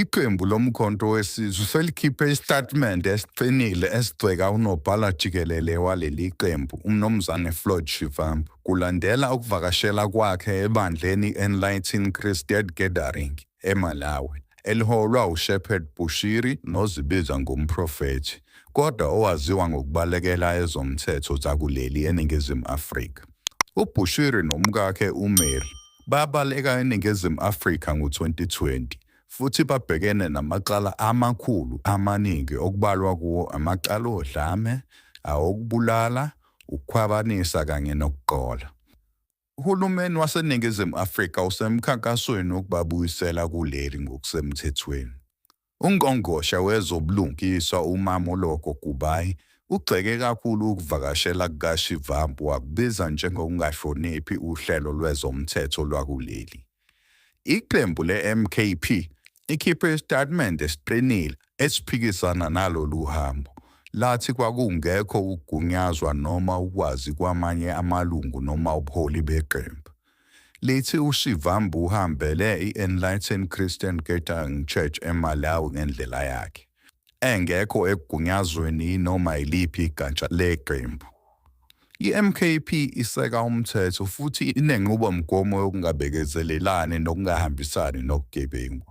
iqembu lomkhonto wesizwe selikhiphe isitatimende esiqinile esigceka unobhala jikelele waleli qembu umnumzane floyd shivambu kulandela ukuvakashela kwakhe ebandleni i-enlighten christian gathering emalawi eliholwa ushepherd bushiri nozibiza ngumprofethi kodwa owaziwa ngokubalekela ezomthetho zakuleli eningizimu afrika ubhushiri nomkakhe umary babaleka eNingizimu Afrika ngo-2020 futhi babhekene namacala amakhulu amaningi okubalwa kuwo amacala odlame, awokubulala, ukukhwabanisa kanye nokuqola. Uhulumeni waseNingizimu Afrika usemkhankasweni wokubabuyisela kuleli ngokusemthethweni. UNgqongqoshe wezoBulungiswa uMamoloko Kubayi ugxeke kakhulu ukuvakashela kukaShivambu wakubiza njengokungahloniphi uhlelo lwezomthetho lwakuleli. Iqembu le-MKP likhiphe isitatimende esiqinile esiphikisana nalolu hambo, lathi kwakungekho ukugunyazwa noma ukwazi kwamanye amalungu noma ubuholi beqembu. lithi uSivambu uhambele i-Enlightened Christian Gathering Church eMalawi ngendlela yakhe engekho ekugunyazweni noma yiliphi igatsha leqembu. I-MKP iseka umthetho futhi inenqubomgomo yokungabekezelelani nokungahambisani nokugebengu.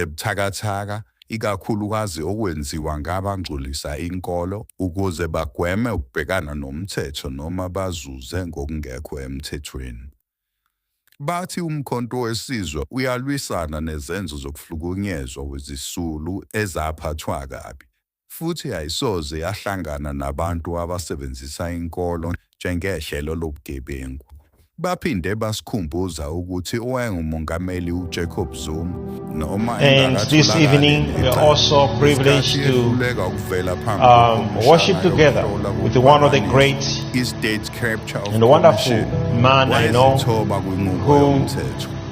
ebuthakathaka ikakhulukazi okwenziwa ngabangcolisa inkolo ukuze bagweme ukubhekana nomthetho noma bazuze ngokungekho emthethweni. Bathi uMkhonto weSizwe uyalwisana nezenzo zokuhlukunyezwa wezisulu ezaphathwa kabi futhi ayisoze yahlangana nabantu abasebenzisa inkolo njengehlelo lobugebengu. Baphinde basikhumbuza ukuthi owayengumongameli uJacob Zuma noma And this evening we are also privileged to um, worship together with one of the great and wonderful man I know who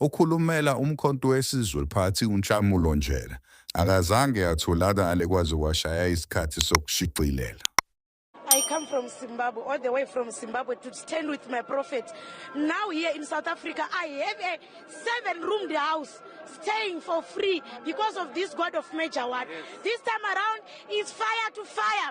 Okhulumela uMkhonto weSizwe Party uNhlamulo Njela akazange atholakale kwaze kwashaya isikhathi sokushicilela. I come from Zimbabwe, all the way from Zimbabwe to stand with my prophet. Now here in South Africa, I have a seven-roomed house staying for free because of this God of Major One. This time around, it's fire to fire.